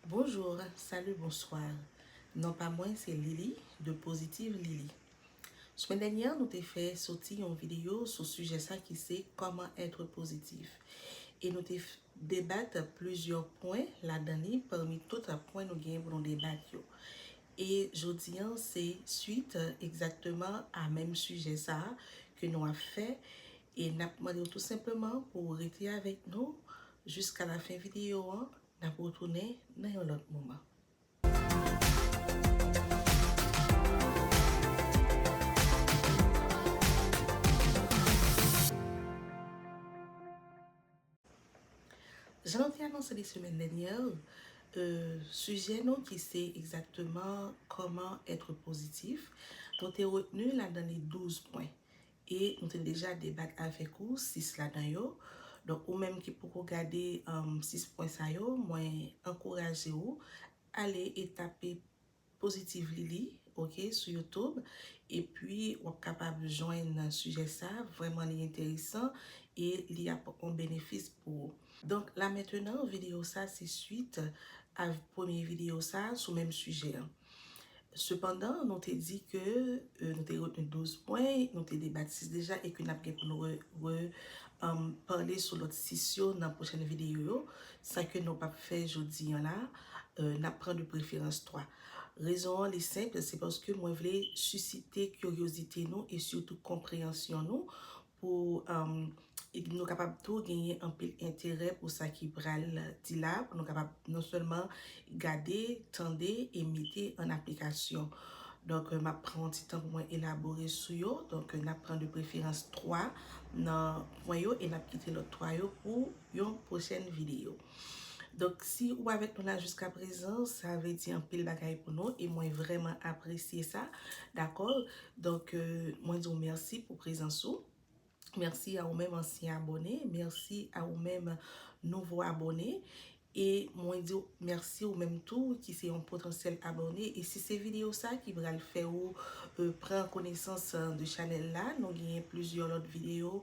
Bonjour, salut, bonsoir Non pa mwen se Lili de Positive Lili Semen dènyè nou te fè soti yon video sou sijè sa ki se Kòman etre pozitif e nou te debat plizyè pwen ladan li pami tout pwen nou genyen pou nou debat yo e jodi an se swit egzakteman a menm sijè sa ke nou ap fè e n ap mande w tou senpleman pou w rete avèk nou Jiska la fen video an nap retounen nan yon lot moman. Jan nou te anonse li semèn dènyè, sijè nou ki se egzakteman kòman etre pozitif, nou te retni ladan li 12 pwen. E nou te deja debat avèk ou 6 ladan yo. Donk ou menm ki poko gade 6 pwen sa yo, mwen ankouraje ou ale e tape Positive Lili ok sou YouTube epi wap kapab jwenn sijè sa, vrèman li enteresan e li ap on benefis pou ou. Donk la mentenan videyo sa se swit av premye videyo sa sou menm sijè an. Sepandan, nou te di ke nou te retni 12 pwen, nou te debat 6 deja e ke n ap gen pou nou repale sou lòt 6 yo nan pwochèn videyo yo, sa ke nou p ap fè jodi an la, n ap pran de preferans 3. Rezon an li senp, se paske mwen vle sisite kiryozite nou e sitou konpreyansyon nou pou nou kapab tou genyen anpil enterè pou sa ki pral di la, pou nou kapab non sèlman gade, tande e mete an aplikasyon. Donk, m ap pran yon ti tan pou mwen elabore sou yo. Donk, n ap pran de preferans 3 nan pwen yo e n ap kite lòt 3 yo pou yon pwochèn videyo. Donk si ou avèk nou la jiska prezan sa vle di anpil bagay pou nou e mwen vrèman apresye sa dakò donk mwen di w mèsi pou prezans ou mèsi a ou menm ansyen abòne mèsi a ou menm nouvo abòne e mwen di w mèsi ou menm tou ki se yon potansyèl abòne e si se videyo sa ki pral fè ou pran konesans de chanèl la nou genyen plizyè lòt videyo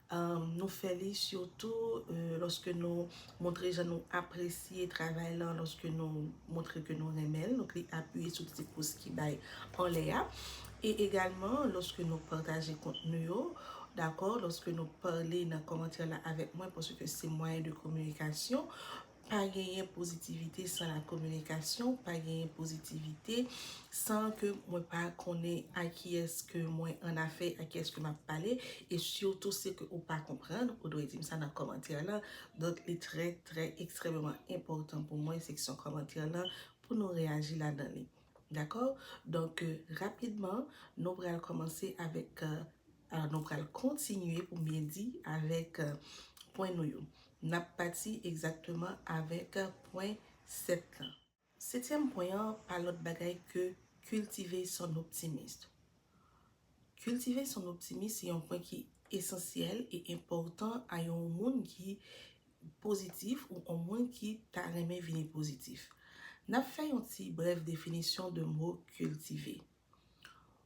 Nou fè li sitou lòske nou montre jan nou apresye travay lan, lòske nou montre ke nou renmen l, nou kli apiye sou ti pous ki bay anlè a. E egalman, lòske nou pataje kontni yo, dakò, lòske nou pale nan kòmantè la avèk mwen, paske se mwayen de kominikasyon, Pa genyen pozitivite san la kominikasyon, pa genyen pozitivite san ke mwen pa konnen a kiyès ke mwen an afè, a kiyès ke m ap pale, e sitou se ke ou pa konprann, ou dwe di m sa nan kòmantè lan. Donk li trè trè ekstrèmeman enpòtan pou mwen seksyon kòmantè lan pou nou reyaji ladan li. Dakò? Donk rapidman nou pral kòmanse avèk. Alò nou pral kontinye pou m byen di avèk pwen nou yo. N ap pati egzakteman avèk pwen 7 lan. Setyèm pwen an pa lòt bagay ke kiltive son optimist. Kiltive son optimist se yon pwen ki esansyèl e enpòtan a yon moun ki pozitif ou yon moun ki ta renmen vini pozitif. N ap fè yon ti brèf definisyon de mo kiltive.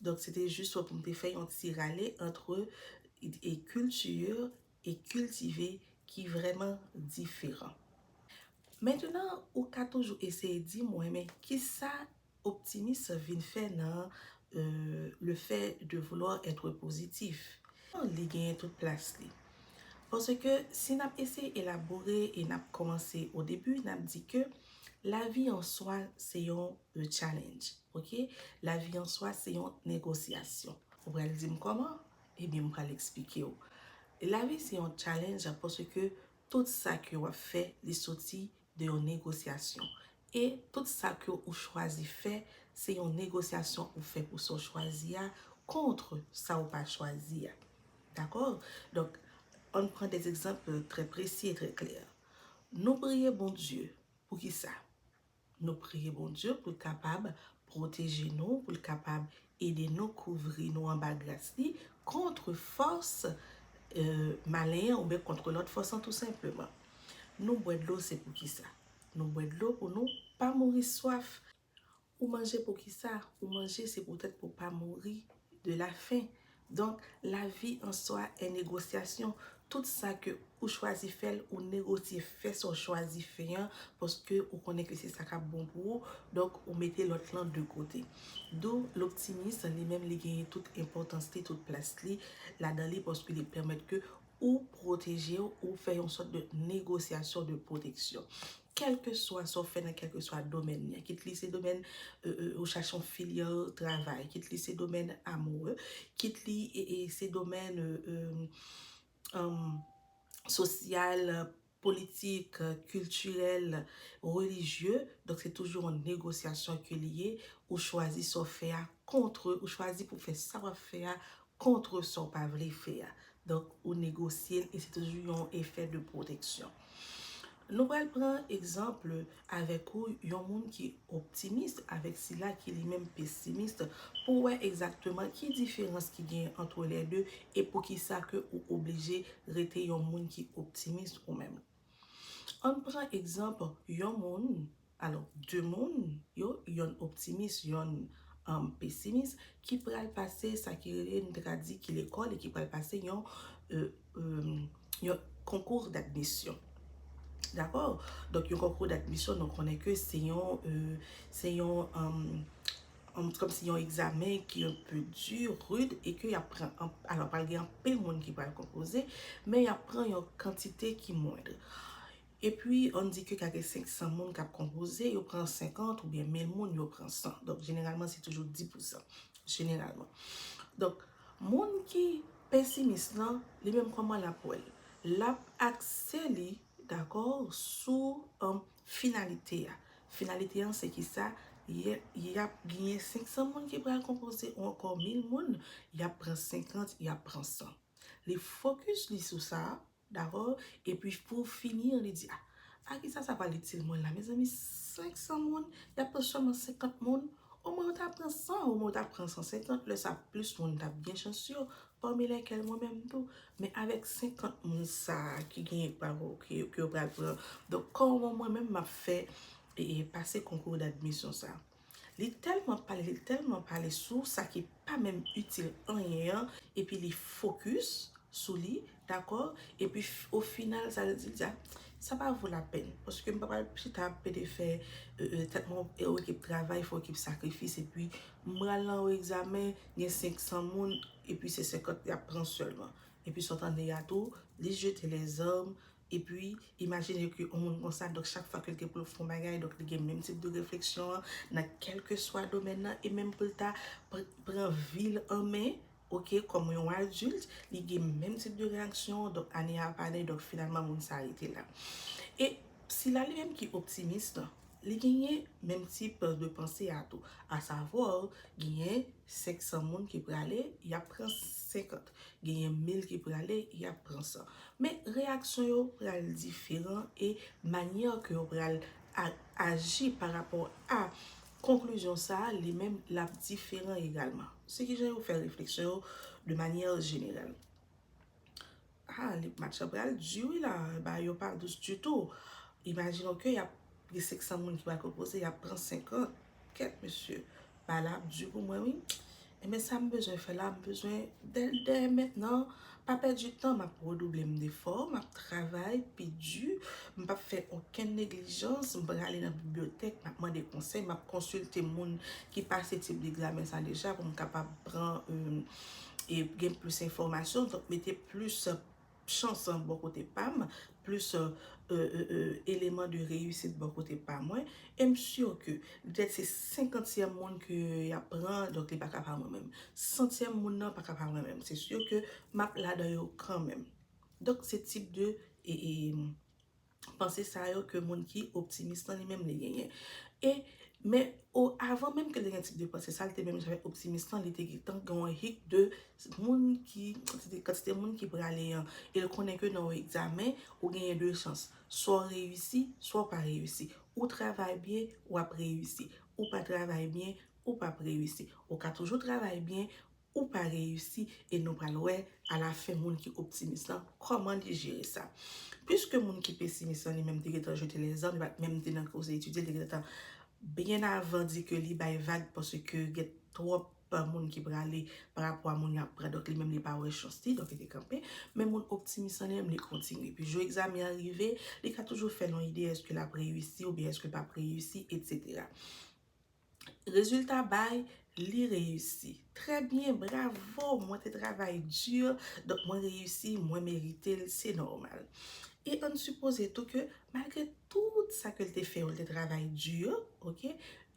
Donk se te jis pou m te fè yon ti rale antre e culture e cultive ki vrèman diferan. Mentenan ou ka toujou eseye di mwen men kisa optimis vin fè nan le fait de vouloir être positif? Li genyen tout plas li. Paske si n ap eseye elabore e n ap kòmanse au début n ap di ke lavi an swa se yon le challenge ok la vi an swa se yon negosyasyon ou pral dim koman ebyen m pral eksplike w la vi se yon challenge pase ke tout sa ke w ap fè li soti de yon negosyasyon e tout sa ke ou chwazi fè se yon negosyasyon ou fè pou sa w chwazi a kontre sa w pa chwazi a dakò donk ann pran de egzanp trè presi e trè klè nou priye Bondye pou kisa Nou priye Bondye pou l kapab pwoteje nou, pou l kapab ede nou, kouvri nou anba gras li kontre fòs malen an oubyen kontre lòt fòs an tou senpleman. Nou bwè dlo se poukisa? Nou bwè dlo pou nou pa mouri swaf. Ou manje poukisa? Ou manje se poutèt pou w pa mouri de lafen. Donk lavi an swa en negosyasyon tout sa ke ou chwazi fèl ou negosye fè sa w chwazi fè an paske ou konnen ke se sa kap bon pou ou donk ou mete lòt lan de kote dou loptimis li menm li genyen tout enpòtans li tout plas li ladan li paske li pèmèt ke ou pwoteje w, ou fè yon sòt de negosyasyon de pwoteksyon. Kèlkeswa sa w fè nan kèlkeswa domèn li, kit li se domèn ou chache yon filyal travay, kit li se domèn amoure, kit li se domèn sosyal, politik, kiltirèl, relijye, donk se toujou yon negosyasyon ke li ye, ou chwazi sa w fè a kontre, ou chwazi pou w fè sa w ap fè a kontre sa w pa vle fè a, donk ou negosye l e se toujou yon efè de pwoteksyon. Nou pral pran egzanp avèk ou yon moun ki optimis avèk sila ki li menm pesimis pou w wè egzakteman ki diferans ki genyen antre lè de e poukisa ke ou oblije rete yon moun ki optimis ou menm. Ann pran egzanp yon moun, alò, de moun yo, yonn optimis, yonn pesimis, ki pral pase sa ki rele, n ta ka di ki lekòl e ki pral pase yon yon konkou d'admisyon. Dakò? Donk yon konkou d'admisyon nou konnen ke se yon, se yon, kòm si yon egzamen ki yon pè di, rud, e ke y ap pran, alò pral gen anpil moun ki pral konpoze, men y ap pran yon kantite ki mwendr. E pi, an di ke ka gen 500 moun k ap konpoze, yo pran 50 oubyen 1000 moun, yo pran 100. Donk jeneralman se toujou 10 pousan. Jeneralman. Donk. Moun ki pesimis lan, li menm kòman l ap wè l? L ap akse li, dakò, sou finalite a. Finalite an se ki sa? Y ap genyen 500 moun ki pral konpoze yon kò 1000 moun, y ap pran 50, y ap pran 100. Li fokis li sou sa. Dakò epi pou fini an li di a a kisa sa pral itil mwen la mezanmi 500 moun yap pran sèlman 50 moun o mwen yo ta pran 100 o mwen yo ta pran 150 lè sa plis moun tap gen chans yo pami lèkèl mwen menm tou men avèk 50 moun sa ki genyen pa vo ke yo pral pran donk kòman mwen menm map fè pase konkou dadmisyon sa a. Li tèlman pale, li tèlman pale sou sa ki pa menm itil anyen an epi li fokis sou li, dakò, epi o final sa li di, li di a sa pa vo lapèn paske m pa pral chita ap pede fè tèt mwen yon ekip travay, fè yon ekip sakrifis epi m pral nan yon egzamen gen 500 moun epi se 50 y ap pran sèlman. Epi sa w tande a tou, li jete lèzòm, Epi, imajine ke yon moun konsa, donk chak fwa ke li gen pou l fè yon bagay, donk li gen menm tip de refleksyon an, nan kèlkeswa domèn nan, e menm pou l ta pran vi l an men, ok, kòm yon adilt, li gen menm tip de reyaksyon an, donk ane a ap ale, donk finalman moun sa rete la. E sila li menm ki optimis lan, Li genyen menm tip de panse a tou. A savoir, genyen 500 moun ki prale, y ap pran 50. Genyen 1000 ki prale, y ap pran 100. Men reyaksyon yo pral diferan e manyè ke yo pral aji pa rapò a konklizyon sa a, li menm l ap diferan egalman. Se kijan yo fè refleksyon yo de manyè jeneral. Haa lip match la pral di wi la bagay yo pa dous ditou imajine w ke yap gen 500 moun ki pral pwopoze yap pran 50 kèt mesye bagay la ap di pou mwen wi enben sa m bezwen fè la m bezwen dè mentnan pa pèdi tan m ap redouble m defò m ap travay pi di m pap fè okenn neglijans m prale nan bibliyotèk m ap mande konsèy m ap konsilte moun ki pase tip degzamen sa deja pou m kapab pran yon e gen plis enfòmasyon donk mete plis chans bò kote pam, plis eleman de reyisit bò kote pa mwen, e m si ke petèt se senkantyèm moun ke y ap pran donk li pa ka pa mwen menm, santyèm moun nan pa ka pa mwen menm, se si ke m ap ladan yo kanmenm. Donk se tip de. panse sa yo ke moun ki optimis lan li menm li genyen. E, men, o, avan menm ke li te gen tip de panse sa, li te menm janmen optimis lan, li te gentan gen yon hik de moun ki, kantite, kantite moun ki prale an. E l konnen ke nan yon egzamen, ou genyen de chans. Swa w reyisi, swa w pa reyisi. Ou travay byen, w ap reyisi. Ou pa travay byen, ou p ap reyisi. Ou ka toujou travay byen, ou pa reyisi e nou pral wè a la fen moun ki optimis lan kòman li jere sa. Piske moun ki pesimis lan li menm te gentan jete lèzan, li pat menm te nan koze etidye, li te gentan byen avan di ke li bay vag paske gen twòp moun ki prale pa rapò a moun y ap pran donk li menm li pa wè chans li donk li te kanpe. Men moun optimis lan li menm li kontinye. Pi jou egzamen an rive, li ka toujou fè l yon ide èske l ap reyisi oubyen èske l p ap reyisi, etsetera. Rezilta bay li reyisi. Trè byen bravo mwen te travay dur donk mwen reyisi mwen meritel se nòmal. E ann sipoze tou ke malgre tout sa ke l te fè yo l te travay dur ok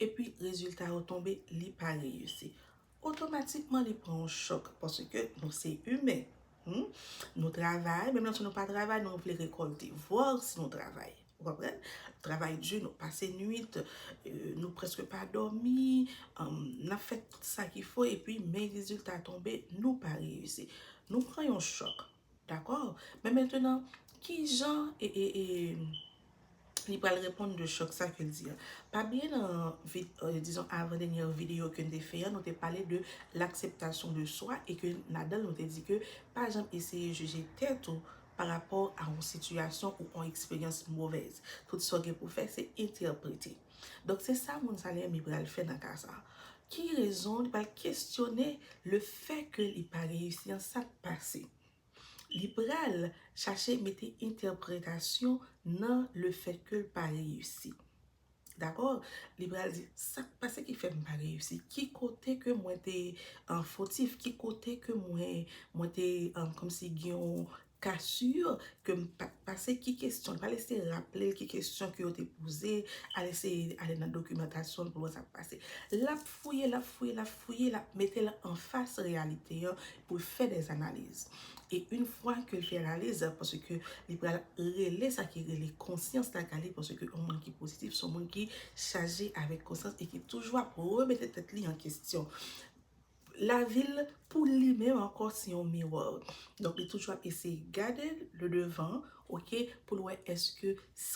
epi rezilta yo tonbe li pa reyisi otomatikman li pran yon chòk paske nou se imen humm nou travay menm lè si nou pa travay nou vle rekòlte vòlè si nou travay ou konprann travay di nou pase nwit nou prèske pa dòmi nap fè tout sa ki fo epi men rezilta tonbe nou pa reyisi nou pran yon chòk Dakò, men mentenan, ki jan li pral reponn de chòk sa ke l di a? Pa bliye nan, dizon, avan dènyè videyo ke n te fè an, nou te pale de l'akseptasyon de swa e ke ladan l nou te di ke pa janm eseye jije tèt ou pa rapò a yon sitiyasyon ou yon eksperyans movèz. Tout sa w gen pou fè se entèprete. Donk se sa moun sa li renmen pral fè nan ka sa. Ki rezon li pral kesyone le fè ke li pa reyisi an sa k pase. Li pral chache mete entèpretasyon nan le fè ke l pa reyisi. Dakò? Li pral di sa k pase ki fè m pa reyisi? Ki kote ke mwen te fotif? Ki kote ke mwen te kòmsi gen yon ka sur ke m pat pase ki kesyon, li pral eseye raple l ki kesyon ke yo te poze, al eseye ale nan dokimantasyon l pou l wè sa k pase. L ap fouye, l ap fouye, l ap fouye, l ap mete l anfas reyalite an pou l fè dè analiz. E yn fwa ke l fin analiz, paske li pral rele sa ki rele konsyans la kale, paske yon moun ki pozitif se yon moun ki chaje avèk konsyans e ki toujou ap remete tèt li an kesyon. Lavi l pou li menm ankò se yon miwò. Donk li toujou ap eseye gade le devan ok pou l wè èske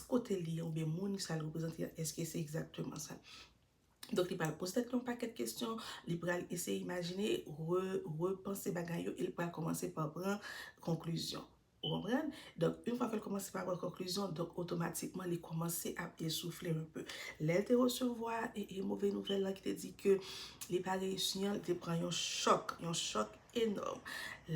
kote l ye oubyen moun sa l reprezante a èske se egzakteman sa. Donk li pral poze tèt li yon pakèt kesyon, li pral eseye imajine, repanse bagay yo e li pral kòmanse pa pran konklizyon. Ou konprann? Donk, yon fwa ke l kòmanse pa pran konklizyon, donk otomatikman li kòmanse ap esouffle un peu. Lè l te resevwa e move nouvèl lan ki te di ke li pa reyisi an, li te pran yon chòk, yon chòk enòm.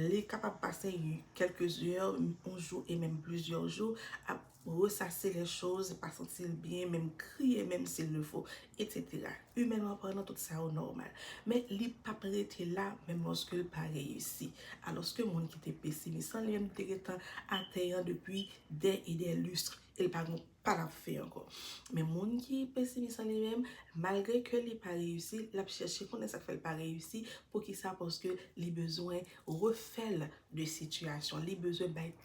Li kapab pase kèlke zè, yon jou e menm plizyè jou ap Ressase les choses, pa santi l byen, menm kriye menm si l le fo, etsetera. Imènman palan tout sa yo nòmal. Men li p ap rete la menm lòske l pa reyisi. Alòske moun ki te pesimis lan li menm li te gentan atè an depi dè e dè lustre e l pa gon pa l ap fè ankò. Men moun ki pesimis lan li menm, malgre ke li pa reyisi, l ap chèche konnen sa k fè l pa reyisi, poukisa paske li bezwen refè l de sitiyasyon, li bezwen bay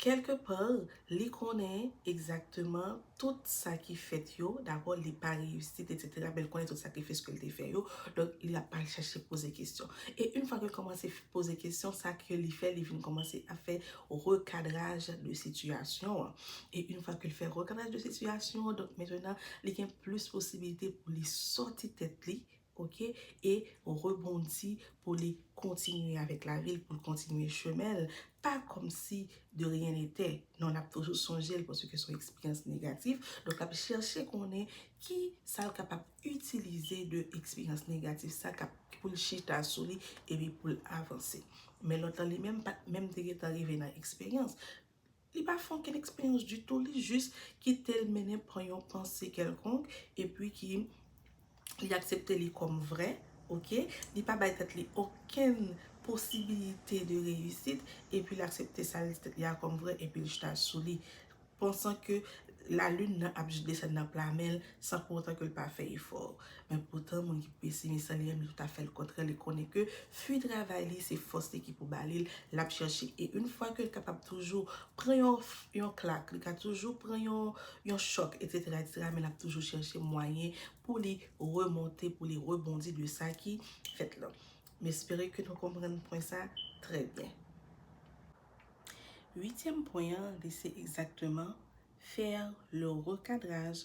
Kèlke par, li konnen egzakteman tout sa ki fèt yo, dakò, li pa reyisit, etsetera, men li konnen tout sakrifis ke li te fè yo, donk li ap al chache poze kesyon. E yn fwa ke l kòmanse poze kesyon, sa ke li fè, li vin kòmanse ap fè rekadraj de sitiyasyon an. E yn fwa ke l fè rekadraj de sitiyasyon an, donk mentenan, li gen plis posibilite pou li sòti tèt li, Ok e rebondi pou li kontinye avèk lavil poul kontinye chemenl pa kòmsi de rien n'etè non lap toujou sonjel paske son eksperyans negatif donk lap chèche konnen ki sal kapab itilize de eksperyans negatif sa kap poul chita souli epi poul avanse men lòt lan li menm pat menm te gentan rive nan eksperyans Li pa fè okenn eksperyans ditou, li jis kite l mennen pa yon panse kèlkonk epi ki li aksepte li kòm vrè, ok, li pa bay tèt li okenn posibilite de reyisit epi l aksepte sa l di tèt li a kòm vrè epi l chita sou li pansan ke lalin nan ap jis desann nan pla men l san pou otan ke l pa fè efò. Men poutan moun ki pesimis lan li renmen tout afè l kontrè li konnen ke fwi travay li se fòs li ki pou ba li l l ap chèche e yn fwa ke l kapab toujou pran yon klak li ka toujou pran yon chòk etsetera etsetera men l ap toujou chèche mwayen pou li remonte pou li rebondi de sa ki fèt lan m espere ke nou konprann pwen sa trè byen uityèm pwen an li se egzakteman fè le rekadraj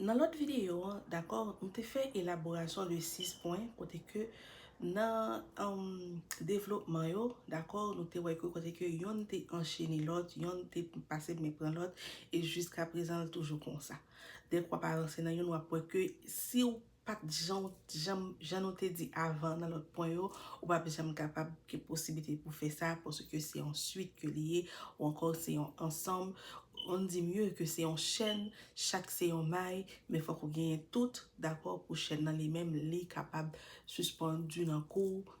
Nan lòt videyo an, dakò, nou te fè elaborasyon de 6 pwen kote ke nan devlopman yo, dakò, nou te wè ke kote ke yonn te anchene lòt, yonn te pase men pran lòt, e jiskaprezan l toujou konsa. Dèk w ap avanse nan youn, w ap wè ke si w Pat jan ou t janm jan nou te di avan nan lòt pwen yo, ou pap janm kapab gen posiblite pou fè sa paske se yon swit ke li ye ou ankò se yon ansanm on dit mieux ke se yon chèn chak se yon may men fòk ou genyen tout dakò pou chèn nan li menm li kapab sispann di nan kou w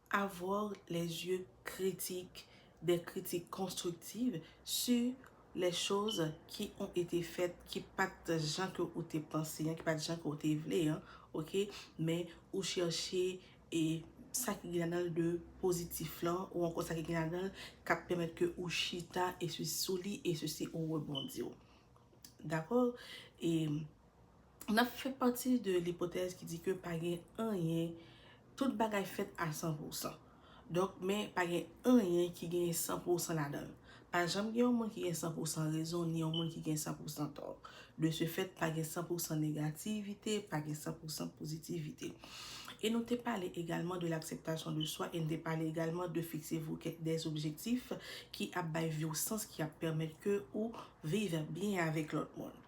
Avoir les yeux critiques des critiques constructives sur les choses qui ont été faites ki pat jan ke ou te panse an, ki pat jan ke ou te vle an ok, men ou chèche e sa ki gen ladan l de pozitif lan ou ankò sa ki gen ladan l kap pèmèt ke ou chita e sou li e sou si ou rebondi w dakò e. N ap fè pati de lipotèz ki di ke pa gen anyen, tout bagay fèt a san pousan. Donk, men pa gen anyen ki gen san pousan ladan l. Pa janm gen yon moun ki gen san pousan rezon, ni yon moun ki gen san pousan tò. De se fèt, pa gen san pousan negativite, pa gen san pousan pozitivite. E nou te pale egalman de l'akseptasyon de swa e n te pale egalman de fiksez-vous kèk des objectifs ki ap bay vi w sans, ki ap pèmèt ke ou viv byen avèk lòt moun.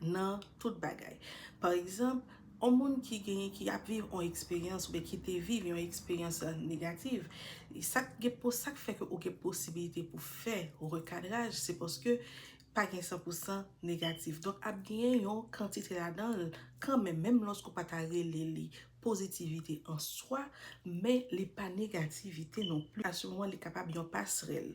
nan tout bagay. Pa egzanp, yon moun ki gen, ki ap viv yon eksperyans oubyen ki te viv yon eksperyans negativ, sa k gen pou, sa k fè ke ou gen posibilite pou fè rekadraj, se paske pa gen san pou san negatif. Donk ap genyen yon kantite ladan l kanmenm, menm lòske ou pa ta rele li pozitivite an swa, men li pa negativite non plis. Sitiyasyon an li kapab yon pasrèl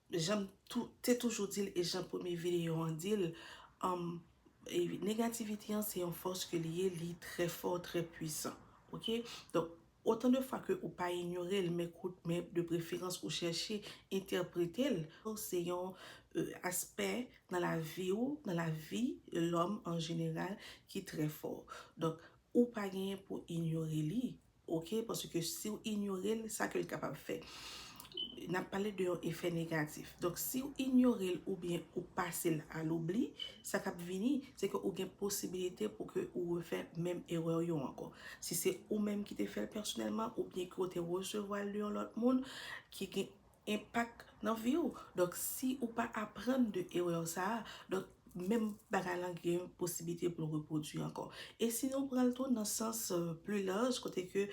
Janm te toujou dil e jan premye video an dil negativite an se yon fòs ke li ye li trè fò trè pwisan ok donk otan de fwa ke ou pa inyorel men kout men de preferans ou chèche entèpretel se yon aspè nan lavi ou nan lavi lòm an jeneral ki trè fò donk ou pa genyen pou inyore li Ok paske siw inyorel sa kel kapab fè nap pale de yon efè negatif donk siw inyorel oubyen ou pasel a loubli sa kap vini se ke ou gen posibilite pou ke ou refè menm erèw yo ankò si se ou menm ki te fèl pèsonèlman oubyen ke ou te resevwal de yon lòt moun ki gen enpak nan vi ou donk si ou pa aprann de erè w sa a donk menm bagay lan gen posiblite pou l repwodui ankò e si nou pran l tou nan sans pli laj kote ke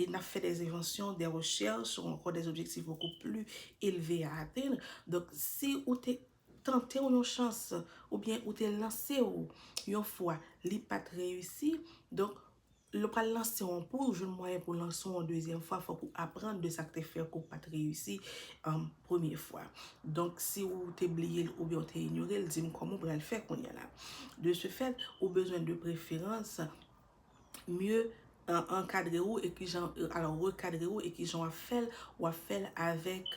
n ap fè dè envansyon dè rechèch ou ankò dè objektif bokou pli elve a atenn donk si ou te tante w yon chans oubyen ou te lanse w yon fwa li pat reyisi donk lè w pral lanse w pou w jwenn mwayen pou w lanse w yon dezyèm fwa fòk ou aprann de sak te fè ke w pat reyisi premye fwa donk si w te bliye l oubyen w te inyore l di m kòman w pral fè kounya la de se fèt ou bezwen de preferans mye ankadre ou e ki jan alò rekadre ou e ki jan w ap fè l, w ap fè l avèk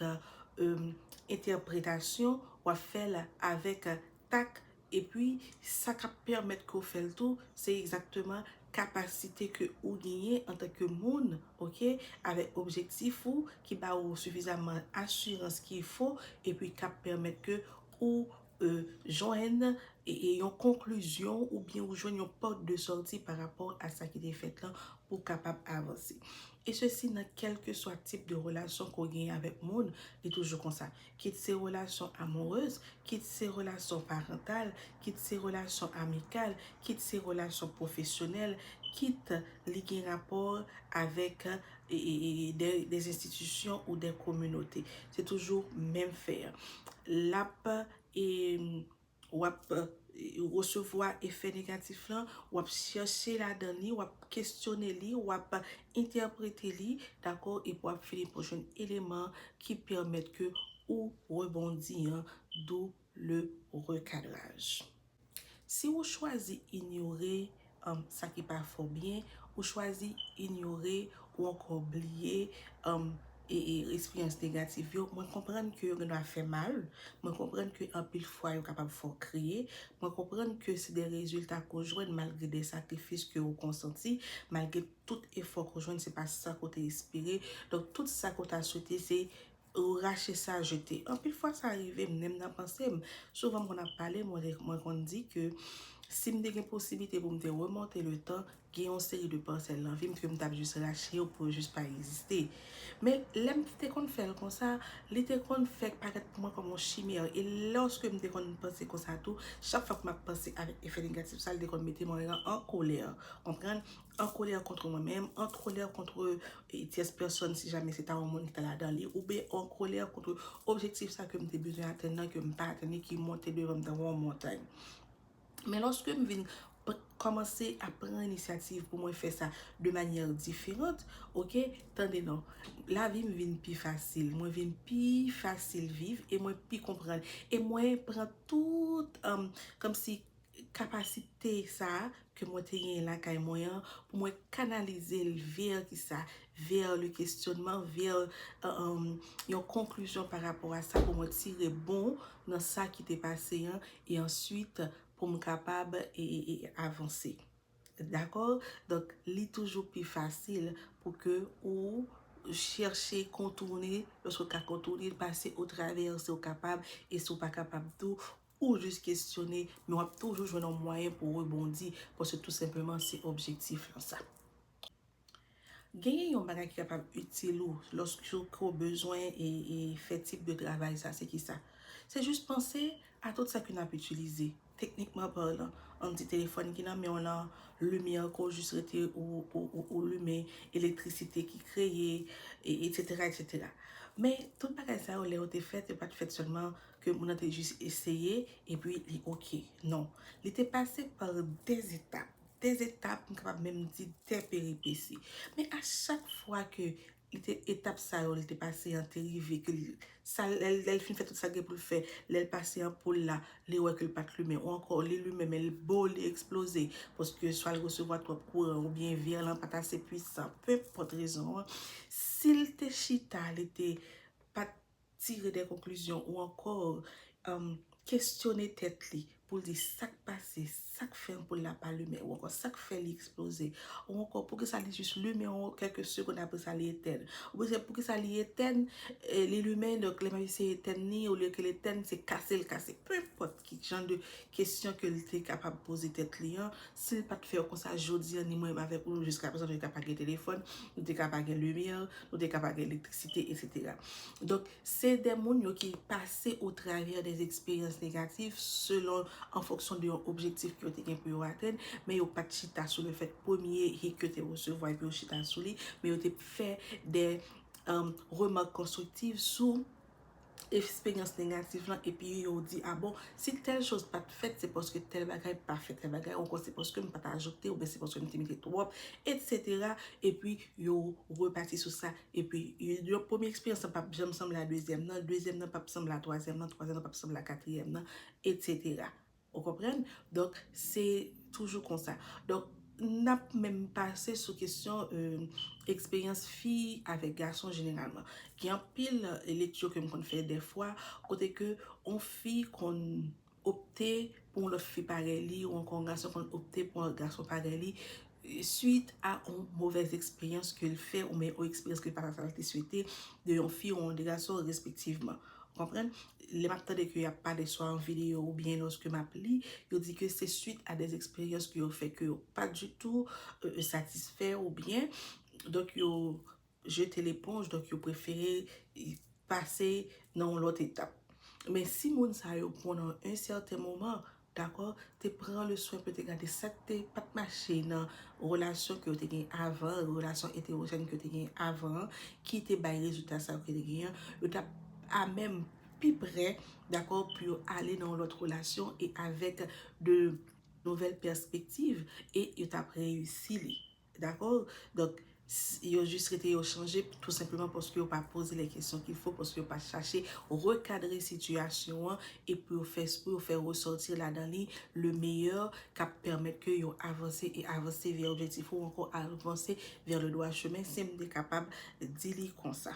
entèpretasyon, w ap fè l avèk tak epi sa k ap pèmèt ke w fè l tou se egzakteman kapasite ke ou genyen antanke moun ok avèk objektif ou ki ba ou sifizaman asirans ki fo epi k ap pèmèt ke ou jwenn yon konklizyon oubyen ou jwenn yon pòt de sòti pa rapò a sa ki te fèt lan pou w kapab avanse. E sesi nan kèlkeswa tip de relasyon ke w genyen avèk moun, li toujou konsa. Kit se relasyon amourez, kit se relasyon parantal, kit se relasyon amikal, kit se relasyon pwofesyonèl, kit li gen rapò avèk des institutions ou des communautés se toujou menm fè an lap wap resevwa efè negatif lan wap chèche ladan li wap kesyone li wap entèprete li dakò epi wap fini pa jwenn eleman ki pèmèt ke ou rebondi an dou Le recadrage. Si ou chwazi inyore sa ki pa fè w byen, ou chwazi inyore ou ankò bliye esperyans negatif yo, mwen konprann ke yo gen dwa fè mal, mwen konprann ke anpil fwa yo kapab fè w kriye, mwen konprann ke se de rezilta ke w jwenn malgre de sakrifis ke ou konsanti, malgre tout efò ke w jwenn se pa sa ke w te espere. Donk tout sa ke w ta swete se Ou rache sa jete. Anpil fwa sa rive m menm nan panse m. Souvan m konn ap pale mwen konn di ke si m te gen posiblite pou m te remonte le tan gen yon seri de parsèl nan vi m ke m tap jis rache yo pou yo jis pa egziste. Men lè m te konn fè l konsa li te konn fè parèt pou mwen kòm yon chimè e lòske m te konn panse konsa tou chak fwa ke m ap panse avèk efè negatif sa li te konn mete mwen an kolè. Konprann? an kolè kontre mwen menm, an kolè kontre e tyès pèsòn si jamè se ta yon moun ki ta ladan li, oubyen an kolè kontre objektif sa ke m te bezwen atenn nan ke m pa atenn li ki monte devan m tankou yon montay. Men lòske m vin kòmanse ap pran inisyativ pou mwen fè sa de manyè diferant, ok, tande non, lavi m vin pi fasil, mwen vin pi fasil viv e mwen pi konprann e mwen pran tout, kòmsi, kapasite sa a ke mwen te genyen lakay mwen an pou mwen kanalize l vè kisa, vè le kestyonnman, vè yon konklizyon pa rapò a sa pou mwen tire bon nan sa ki te pase an e answit pou m kapab avanse. Dakò? Donk, li toujou pi fasil pou ke ou chèche kontourne, lòske ou ka kontourne l, pase otravè, si ou kapab, e si ou pa kapab tou, Ou jis kesyone, men w ap toujou jwenn yon mwayen pou w rebondi, paske tou senpleman se objektif lan sa. Genyen yon bagay ki kapab itil ou lòske w bezwen fè tip de travay sa, se ki sa? Se jis panse a tout sa ke n ap itilize, teknikman palan, an n di telefòn ki nan men w lan, limyè ke w jis rete ou limen, elektrisite ki kreye, etsetera, etsetera. Men, tout bagay sa yo lè yo te fèt, yo pa t fèt sèlman Ke moun nan te jis eseye epi li ok. Non. Li te pase par de etap. De etap, m kapab menm di de peripesi. Men a chak fwa ke li te etap sa yo li te pase an te rive ke li sa lè l fin fè tout sa l gen pou l fè, lè l pase anpoul la, li wè ke l pa t limen. Ou ankò li limen men l bo, li eksploze. Paske swa l resevwa twòp kouran oubyen vèr lan pa t ase pwisan. Penpòt rezon an, si l te chita li te pa t tire de konklizyon ou ankò kestyone tèt li pou l di sa k pase, sa k fè anpoul la pa limen ou ankò sa k fè li eksploze ou ankò poukisa li jis limen ou kèk segonn apre sa li etèn ou byen se poukisa li etèn li limen donk lè m ap eseye etèn li olye ke l etèn se kase l kase, penpòt. Ki jan de kesyon ke li te kapab poze tèt li an? Si li pa t fè yo konsa, jodi an, ni mwen menm avèk ou, jiska prezan, nou te ka pa gen telefòn, nou te ka pa gen limyè, nou te ka pa gen elektrisite, etsetera. Donk, se de moun yo ki pase otravè de eksperyans negatif, selon, an fonksyon de yon objektif ke yo te gen pou yo atenn, men yo pa t chita sou le fèt premye hik yo te resevwa epi yo chita sou li, men yo te fè de remak konstriktiv sou. eksperyans negatif lan epi yo di a bon si tèl choz pat fèt se paske tèl bagay pa fèt tèl bagay ankò se paske m pat ajoute oubyen se paske m te mete twòp etsetera epi yo repati sou sa epi yon premye eksperyans lan pap janm sanble a dezyèm nan dezyèm nan pap sanble a twazyèm nan twazyèm nan pap sanble a katriyèm nan etsetera Ou konprann? Donk, se toujou konsa. Donk, n ap menm pase sou kesyon eksperyans fi avèk gason jeneralman. Gen anpil lekti ke m konn fè dèfwa kote ke yon fi konn opte pou yon lòt fi parèy li ou ankò yon gason konn opte pou yon lòt gason parèy li swit a on movèz eksperyans ke l fè oubyen on eksperyans ke l pa ta sa l te swete de yon fi ou on de gason respektivman. Ou konprann? Lè m ap tande ke y ap pale swa an videyo oubyen lòske m ap li, yo di ke se swit a dèz eksperyans ke yo fè ke yo pa ditou satisfè oubyen donk yo jete leponj donk yo prefere pase nan yon lòt etap men si moun sa yo pran nan yon sèten moman dakò te pran le swen pou yo te gade sa ki te pat mache nan relasyon ke yo te gen avan relasyon eterojèn ke yo te gen avan an ki te bay rezilta sa yo ke yo te gen an yo t ap a menm pi pre dakò pou yo ale nan yon lòt relasyon e avèk de nouvèl pèspektiv e yo t ap reyisi li. Dakò? Donk, yo jis rete yo chanje tou senpleman paske yo pa poze lè kesyon ki fo, paske yo pa chache rekadre sitiyasyon an e pou yo fè pou yo fè resòti ladan li le meyè k ap pèmèt ke yo avanse e avanse vè objektif ou ankò avanse vè le dwa chemen, si m te kapab di li konsa.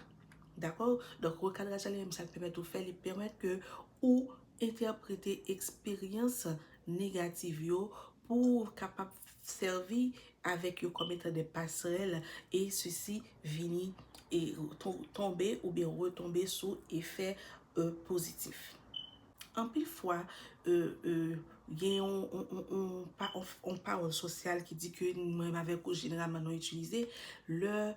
Dakò? Donk, rekadraj la li menm sa l pèmèt ou fè, li pèmèt ke ou. Entèprete eksperyans negativ yo pou ou kapab sèvi avèk yo kòm etan de pasrèl e sisi vini e tonbe oubyen retonbe sou efè pozitif. Anpil fwa, gen yon pawòl sosyal ki di ke mwen avèk ou jeneralman nou itilize lè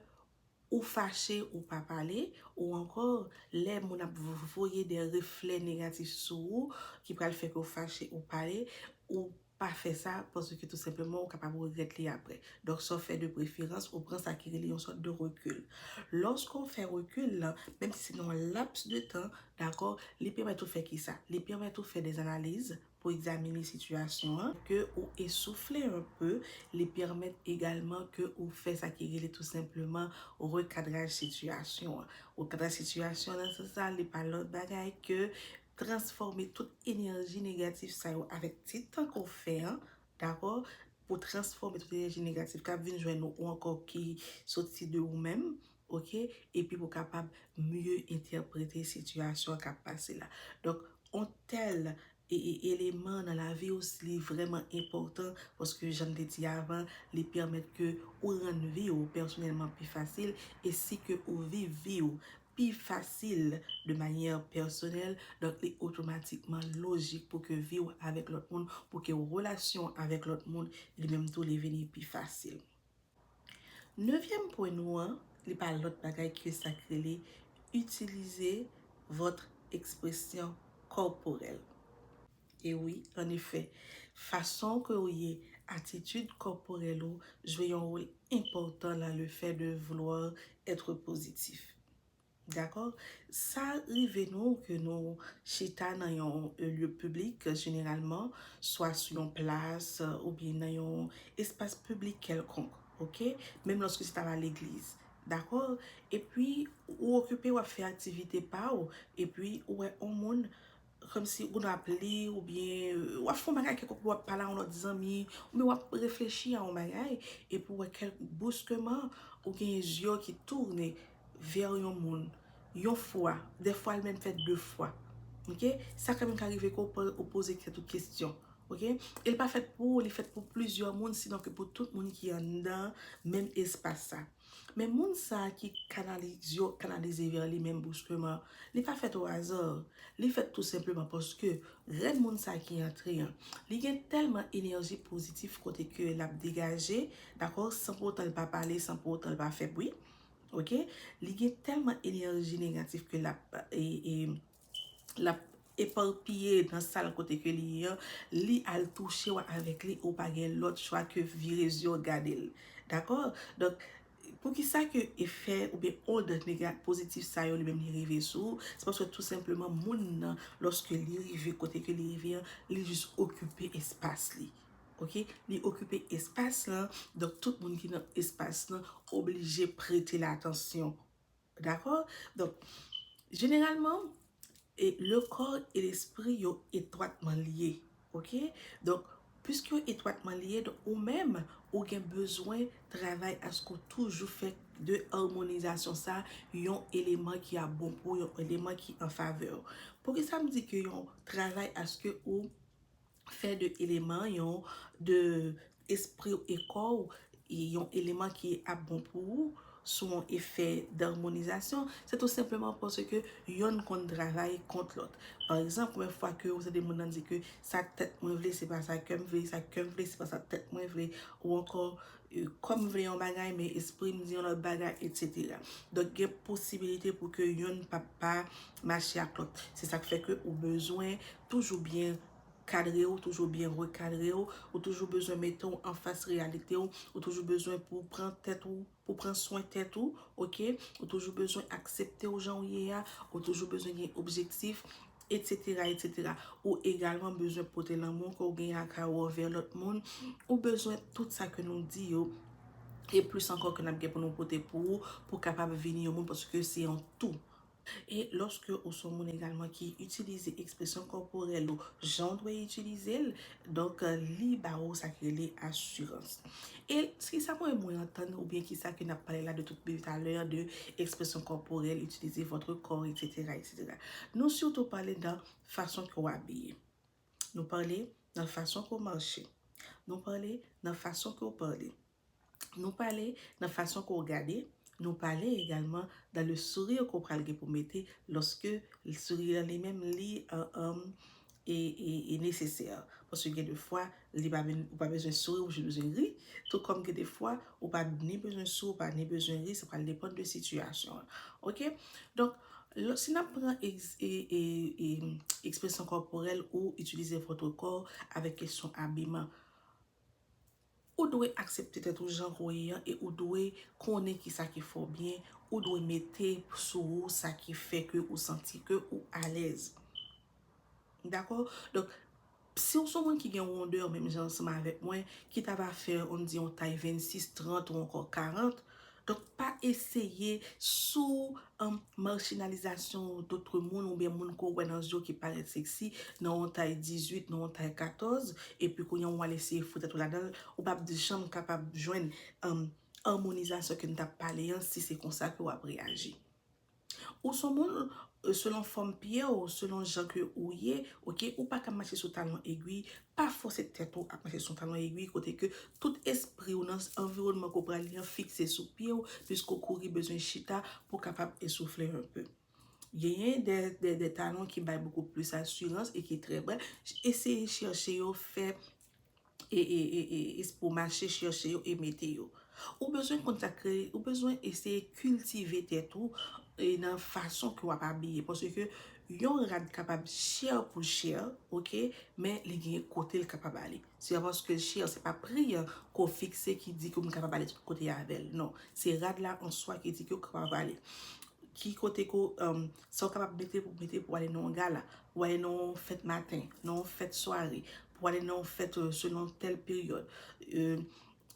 ou fache ou pa pale, ou ankò lè moun ap voye de reflè negatif sou ou ki pral fè ke w fache ou pale, ou pa fè sa paske tou senpleman ou kapab regrèt li aprè. Donk sa w fè de preferans ou pran sa ki rele yon sòt de rekil. Lòske w fè rekil lan, menm si se nan yon laps de tan, dakò, li pèmèt ou fè kisa? Li pèmèt ou fè de analiz, pou egzamine sitiyasyon an, ke ou esoufle un peu, li pèmèt egalman ke ou fè sa ki rele tou senpleman rekadraj sitiyasyon an. Rekadraj sitiyasyon nan sans sa, li pa lòt bagay ke transfòme tout enèji negatif sa yo avèk ti tan ke w fè an, dakò, pou transfòme tout enèji negatif kap vin jwenn ou, ou ankò ki soti de ou menm, Ok, epi pou kapab mye entèprete sitiyasyon kap pase la. Donk, on tèl eleman nan lavi ou li vrèman enpòtan paske jan m te di avan, li pèmèt ke ou rann vi ou pèsonèlman pi fasil e si ke ou viv vi ou pi fasil de manyè pèsonèl, donk li otomatikman lojik pou ke vi ou avèk lòt moun, pou ke relasyon ou avèk lòt moun li menm tou li vini pi fasil. Nevyèm pwen nou an, li pa lòt bagay ke sa k rele itilize vòt ekspresyon kòporèl. E wi, an efè, fason ke ou ye, atitid kòporèl ou jwe yon wol enpòtan lan le fè de vouloir être positif. Dakò? Sa rive nou ke nou chita nan yon lye piblik, jeneralman, swa sou yon plas oubyen nan yon espas piblik kèlkonk, ok? Menm lòske se ta la legliz. Dakò? Epi, ou okipe, w ap fè aktivite pa ou, epi ou wè on moun Kòmsi ou konn ap li oubyen ou ap fè yon bagay kèlkonk ou ap pale a yon lòt zanmi oubyen ou ap reflechi a yon bagay epi ou wè kèlk bouskeman ou gen zye w ki tourne vè yon moun yon fwa dèfwa l menm fè de fwa ok sa ka menm ka rive ke ou poze tèt ou kesyon ok e l pa fèt pou ou li fèt pou plizyè moun sinon ke pou tout moun ki anndan menm espas sa. Men moun sa a ki kanalize yo kanalize vè li menm bouskleman, li pa fèt o aza, li fèt tou senpleman paske grenn moun sa ki antre an, li gen tèlman enèji pozitif kote ke l ap degaje, dakò, san pou otan l pa pale, san pou otan l pa fè bri, ok, li gen tèlman enèji negatif ke l ap e, e. lap eparpiye nan sal kote ke li ye an, li al touche w avèk li ou pa gen lòt chwa ke vire zye w gade l. Dakò? Donk, poukisa ke efè oubyen ond nega, pozitif sa yo li menm li rive sou ou, se paske tou senpleman moun nan lòske li rive kote ke li rive an, li jis okipe espas li. Ok? Li okipe espas lan, donk tout moun ki nan espas lan oblije prete l atansyon. Dakò? Donk, jeneralman, e le kò e lespri yo etwatman lye. Ok? Donk, piske yo etwatman lye, donk ou menm, ou gen bezwen travay aske ou toujou fè de armonizasyon sa a yon eleman ki ap bon pou ou, yon eleman ki an favè ou. Poukisa m di ke yon travay aske ou fè de eleman yon de espri w e kò w yon eleman ki ap bon pou ou sou yon efè darmonizasyon, se tou senpleman paske yonn konn travay kont lòt. Pa egzanp, konbyen fwa ke ou tande moun nan di ke sa tèt mwen vle se pa sa kè m vle, sa kè m vle se pa sa tèt mwen vle, ou ankò kò m vle yon bagay men espri m di yon lòt bagay etsetera. Donk gen posibilite pou ke yonn pa pa mache ak lòt. Se sa k fè ke ou bezwen toujou byen kadre ou, toujou byen rekadre ou, ou toujou bezwen mete ou anfas reyalite ou, ou toujou bezwen pou pran tèt ou, pou pran swen tèt ou, ok, ou toujou bezwen aksepte ou jan ou ye a, ou toujou bezwen gen objektif, etsetera, etsetera. Ou egalman bezwen pote lanmou ke ou gen lakay ou anvè lòt moun, ou bezwen tout sa ke nou di yo, e plis ankò ke nap gen pou nou pote pou ou, pou kapab vini yon moun paske se yon tou. E lòske ou son moun egalman ki itilize ekspresyon kòporèl ou jan w dwe itilize l, donk li ba ou sa ki rele asirans. E ki sa mwen mwen antann oubyen ki sa ke n ap pale la de tout depi talè an de ekspresyon kòporèl, itilize votre corps eksetera eksetera. Nou sitou pale nan fason ke w abiye. Nou pale nan fason ke w mache. Nou pale nan fason ke w pale. Nou pale nan fason ke w gade, nou pale egalman nan le sourire ke w pral gen pou mete loske sourire an li menm li e nesesè. Paske gen de fwa li pa vin, ou pa bezwen souri, ou jis bezwen ri. Tou kòm gen de fwa ou pa ni bezwen souri, ou pa ni bezwen ri, sa pral depann de sitiyasyon an. Ok? Donk, si n ap pran ekspresyon kòporèl ou itilize vòtre kò avèk kesyon abiman. Ou dwe aksepte tèt ou jan ke w ye an e ou dwe konnen kisa ki fè w byen, ou dwe mete sou ou sa ki fè ke ou santi ke ou alèz. Dakò? Donk, si w son moun ki gen wondè menm jan ansanm avèk mwen, ki ta va fè, ann di yon tay 26, 30 ou ankò 40, Donk pa eseye sou marginalizasyon dotre moun oubyen moun ke w wè nan zye w ki parèt seksi nan yon tay 18, nan yon tay 14, epi kounye w al eseye fout tèt w ladan l, ou p ap janm kapab jwenn amonizasyon ke n t ap pale an si se konsa ke w ap reyaji. Ou son moun selon fòm pye w, selon jan ke ou ye, ok, ou pa ka mache sou talon egwi, pa fòse tèt ou ap mache sou talon egwi kote ke tout espri w nan anviwònman ke w pral li an fikse sou pye w piske w kouri bezwen chita pou w kapab esoufle un peu. Genyen de talon ki bay beaucoup plus assurance e ki trè bèl, eseye chèche yo fè pou mache chèche yo e mete yo. Ou bezwen konn sa k rele, ou bezwen eseye kiltive tèt ou nan fason ke w ap abiye. Paske yon rad kapab chè pou l chè, ok, men li gen kote l kapab ale. Se pa paske l chè, se pa pri an ke w fikse ki di ke moun kapab ale tout kote avè l. Non, se rad la an swa ki di ke w kapab ale. Ki kote ke w, sa w kapab mete pou w mete pou w ale nan yon gala, pou w ale nan yon fèt maten, nan yon fèt sware, pou ale nan yon fèt selon tèl peryòd,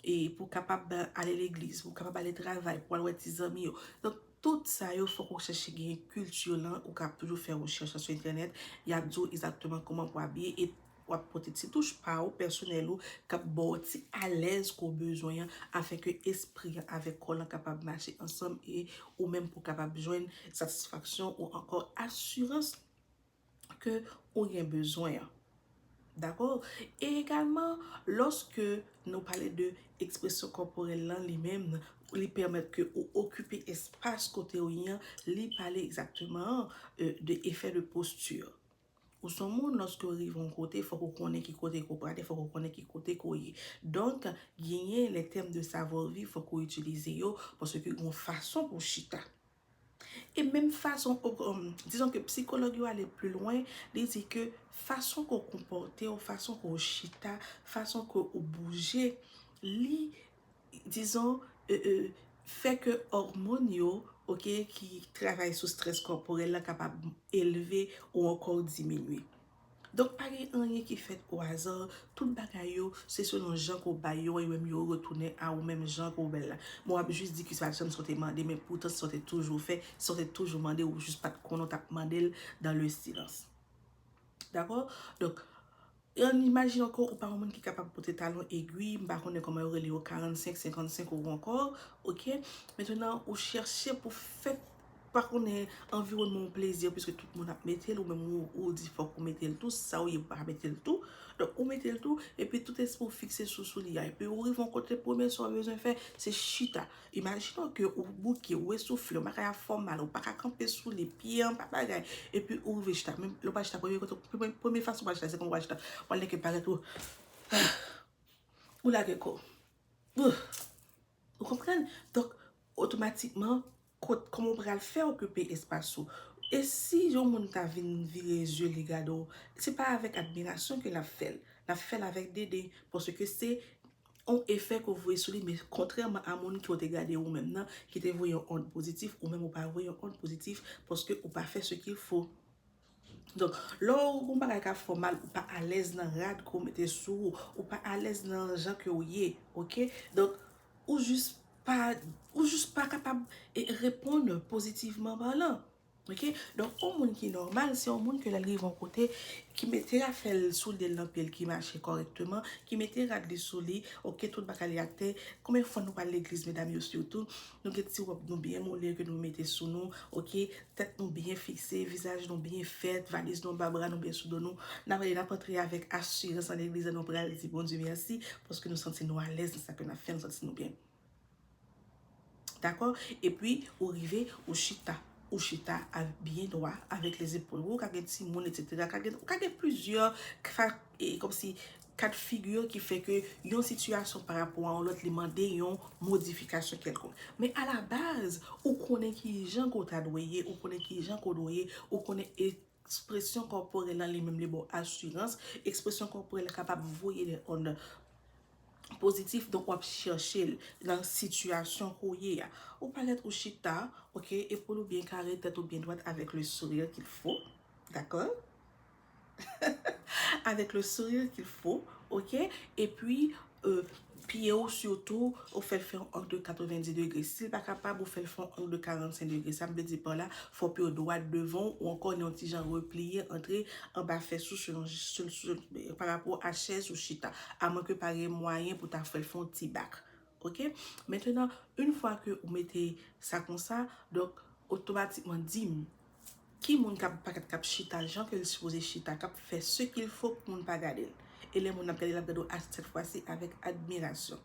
e pou kapab ale legliz, pou kapab ale travay, pou al wè ti zanmi yo. Donk, tout sa yo fòk ou chèche genyen kilti yo lan, ou ka toujou fè rechèch lan sou entènèt, y ap di w egzakteman kouman pou w abiye, e w ap pote ti touch pa ou, pèsonèl ou, k ap ba w ti alèz ke w bezwen an, afin ke espri an avèk kò lan kapab mache ansanm, e ou menm pou w kapab jwenn satisfaksyon ou ankò asirans ke ou gen bezwen an. Dakò? E egalman, lòske nou pale de ekspresyon kòporèl lan li menm, li pèmèt ke ou okipe espas kote ou ye an, li pale egzakteman de effet de posture. Ou son moun lòske ou rive yon kote, fòk ou konnen ki kote ke ou prale, fòk ou konnen ki kote ke ou ye. Donk, genyen lè tèm de savoir vivre fòk ou itilize yo, paske gen yon fason pou chita. E menm fason, dizon ke psikològ yo ale pli lwen, li di ke fason ke w konpòte w, fason ke w chita, fason ke w bouje, li, dizon, fè ke òmòn yo, ok, ki travay sou strès kòporèl la kapab elve ou ankò diminye. Donk pa gen anyen ki fèt o aza, tout bagay yo se selon jan ke w bay yo an, yo menm yo retounen a ou menm jan ke w bèl la. Bon w ap jis di ke se pa sa w te mande men poutan se sa w te toujou fè, se sa w te toujou mande, ou jis pa t konnen w t ap mande l dans le silence. Dakò? Donk, an imajine ankò ou pa yon moun ki kapab pote talon egwi, m pa konnen kòman yo rele yo 45, 55 ou ankò, ok, mentenan ou chèche pou fè. pa konnen anviwònman w plezi a piske tout moun ap mete l ou menm ou di fòk ou mete l tou si sa ou ye ou pa mete l tou donk ou mete l tou epi tout espri w fikse sou sou li a epi ou rive yon kote premye sa w bezwen fè se chita imajine w ke ou bouke ou esoufle w bagay ap fè w mal ou pa ka kanpe sou li pye an pa bagay epi ou rive chita menm lè w pral chita premye kote premye fason w pral chita se kòman w pral chita wal nèke parèt ou ou lage kò w Ou konprann? Donk, otomatikman, kot, kòman ou pral fè okipe espas ou? E si yon moun ta vin vire zye li gade w, se pa avèk admirasyon ke l ap fè l. L ap fè l avèk deden, paske se yon efè ke w voye sou li, men kontrèman a moun ke w te gade ou menm nan, ki te voye yon ond pozitif, ou menm ou pa voye yon ond pozitif, paske ou pa fè ce qu'il faut. Donk, lè w gen yon bagay k ap fè w mal, ou pa alèz nan rad ke w mete sou ou, ou pa alèz nan jan ke w ye, oke. Donk, ou jis pa, ou jis pa kapab reponn pozitivman palan, oke. Donk, yon moun ki nòmal, se yon moun ke lè l rive yon kote, ki mete afè l, soulye l nan pye l, ki mache kòrèkteman, ki mete rad li sou li, oke, tout bagay li atè. Konbyen fwa nou pa al legliz medam yo sitou? Nou gen ti rob nou byen mole ke nou mete sou nou ok tet nou byen fikse vizaj nou byen fet valiz nou anba bra nou byen sou do nou nap ale nap antre avek asirans nan legliz la nou pral di Bondye merci paske nou santi nou alez nan sa ke nap fe nou santi nou byen dako epi ou rive ou chita ou chita byen dwa avek les epol ou ka gen timoun etc ka gen plizyè E kòmsi ka de figi yo ki fè ke yon sitiyasyon pa rapò a yon lòt li mande yon modifikasyon kèlkonk. Men a la baz, ou konnen ki jan ke w ta dwe ye, ou konnen ki jan ke w dwe ye, ou konnen ekspresyon kòporèl la li menm li ba w asirans, ekspresyon kòporèl la kapab voye de ond pozitif donk w ap chèche l nan sitiyasyon ke w ye a. Ou parèt ou chita, ok, epoul ou byen kare, tèt ou byen dwat avèk le sourire qu'il faut, dakò? Avèk le sourire qu'il faut ok e pi pye ou sitou ou fè l fè yon ang de 90 degre si l pa kapab ou fè l fè yon ang de 45 degre sa m vle di pa w la fò pye w dwat devan w ou ankò gen yon ti jan repliye antre anba fès ou selon pa rapò a chèz ou chita a mwen ke pa gen mwayen pou ta fè l fè yon ti bak ok mentenan in fwa ke ou mete sa konsa donk otomatikman di m Ki moun kap pakat kap chita jan ke l sipoze chita kap fè se kil fo pou moun pa gade l e lè moun ap gade l ap gade w a sèt fwasi avèk admirasyon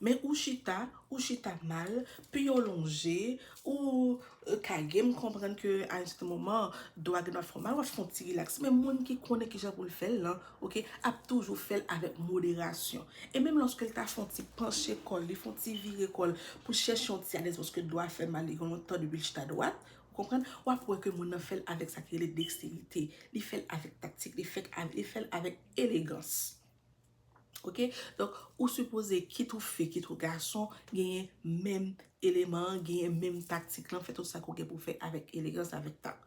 men ou chita ou chita mal pye w lonje ou kage m konprann ke a yon sèten moman do a gen dwa fè w mal wap fè yon ti rilaks men moun ki konnen kijan pou l fè l lan Ok, ap toujou fè l avèk moderasyon. E menm lòske l ta fè yon ti panche kò l, li fè yon ti vire kò l pou l chèche yon ti alèz paske do a fè l mal, li gen lontan depi l chita dwat, ou konprann, w ap wè ke moun nan fè l avèk sa ki rele deksterite, li fè l avèk taktik, li fè l avèk elegans. Ok, donk ou sipoze kit ou fi, kit ou gason, genyen menm eleman an, genyen menm taktik lan, fè tout sa ke w gen pou w fè avèk elegans, avèk tak.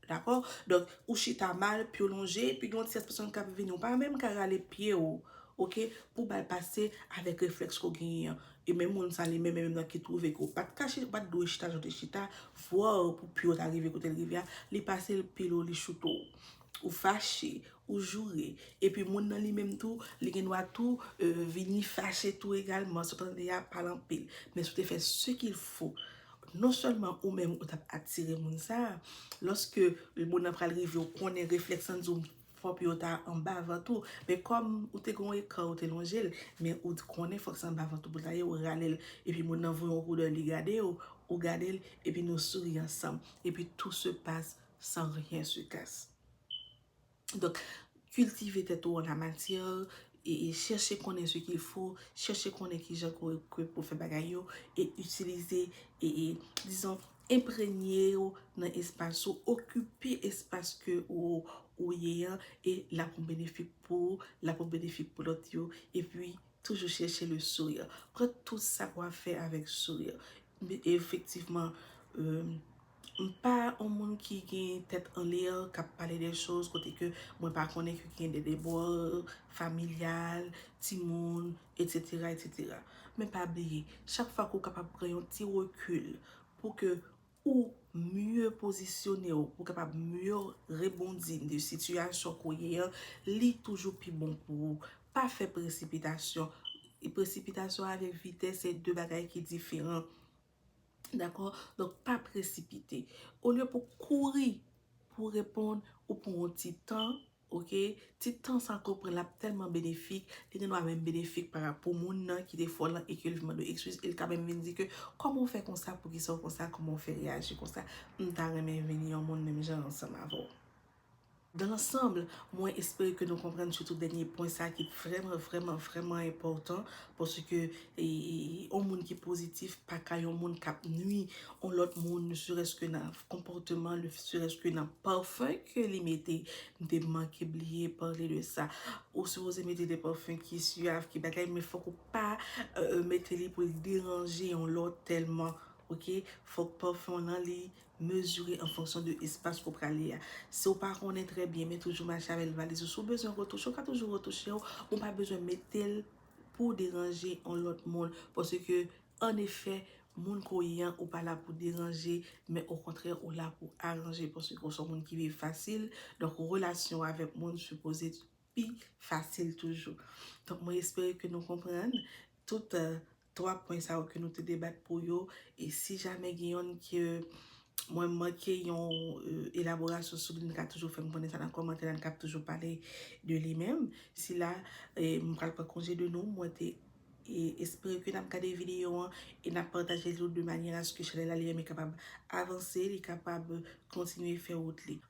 Dakò? Donk, ou chita mal, pye w lonje, epi gen yon ti espasyon k ap vini. Ou pa menm ka rale pye w, ok, pou w ba l pase avèk reflèks ke w genyen an. E menm moun sa li menm, menm nan ki twouve ke w pa t ka chita, ou pa t dwe chita jan w te chita, vwa w pou pye w ta rive kote l rive a, li pase l pile w, li choute w. Ou fache, Ou joure. Epi moun nan li menm tou, li gen dwa tou vini fache tou egalman si w ta tande y ap pale anpil. Men si w te fè se kil fo, non sèlman ou menm ou t ap atire moun sa a, lòske moun nan pral rive ou konnen reflèks lan di w fò pye w ta anba vant ou. Men kòm ou te gen yon ekran ou te lonje l, men ou t konnen fòk se anba vant ou pou l ta ye, ou rale l. Epi moun nan voye yon koudèy li gade w, ou gade l, epi nou souri ansanm. Epi tout se pase san ryen se kase. Donk, kiltive tèt ou an la matyè, e chèche konnen se kil fo, chèche konnen ki jan ke pou fè bagay yo, e itilize, e dizon, enprègne ou nan espas ou, okipe espas ke ou ye an, e l ap yon benefik pou ou, l ap yon benefik pou lòt yo, e pi toujou chèche le souri. Pran tout sa ou ap fè avèk souri. Efektivman, M pa on moun ki gen tèt an l'air kap pale de choz kote ke mwen pa konnen ke gen de debord familial, timoun, etc. Etc. Men pa bliye, chak fwa ke ou kapab pran yon ti recul pou ke ou mieux posisyone ou, pou kapab mieux rebondi de sitiyasyon ke ou ye an, li toujou pi bon pou ou. Pa fè presipitasyon. Presipitasyon avèk vitès se 2 bagay ki diferan. Dakò? Donk pa presipite. Olye pou kouri pou w reponn, ou pran yon ti tan, ok? Ti tan sa ke w pran l ap tèlman benefik, li gen dwa menm benefik para pou moun nan ki te fè w lan e ke l vin mande w ekskiz, e l ka menm vin di ke, kòman w fè konsa, poukisa w konsa, kòman w fè reyaji konsa, m ta renmen vin yon moun menm jan ansanm avè w. Dans l'ensemble, mwen espere ke nou konprann sitou dènye pwen sa ki vrèman, vrèman, vrèman enpòtan, paske yon moun ki pozitif pa ka yon moun k ap nui yon lòt moun, ne serès ke nan konpòteman, ne serès ke nan parfum ke li mete, m te manke bliye pale de sa, ou sipoze mete de parfum ki suave, ki bagay, men fòk ou pa mete li pou l deranje yon lòt tèlman, ok, fòk parfum w lan li Mezire an fonksyon de espas ke w prale a. Si w pa konnen trè byen men toujou mache avèk valiz ou, si w bezwen retouche w ka toujou retouche l, men w pa bezwen mete l pou w deranje yon lòt moun paske an efè moun ke w ye an ou pa la pou deranje men okontrè ou la pou aranje paske w se yon moun ki viv fasil donk relasyon w avèk moun sipoze pi fasil toujou. Donk mwen espere ke nou konprann tout 3 pwen sa yo ke nou te debat pou yo e si jamè gen yonn ke mwen manke yon elaborasyon sou li nou ka toujou fèm konnen sa nan kòmantè la nou kab toujou pale de li men sila mwen pral pran konje de nou mwen te espere ke nap gade videyo an e nap pataje li de manyè aske chanèl la li menm li kapab avanse li kapab kontinye fè wout li.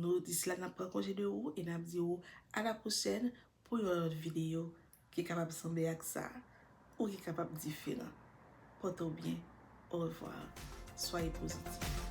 Nou di sila nap pran konje de ou e nap di ou a la pwochèn pou yon lòt videyo ki kapab sanble ak sa ou ki kapab diferan. Pòte w byen. Orevwa. Soyez positif.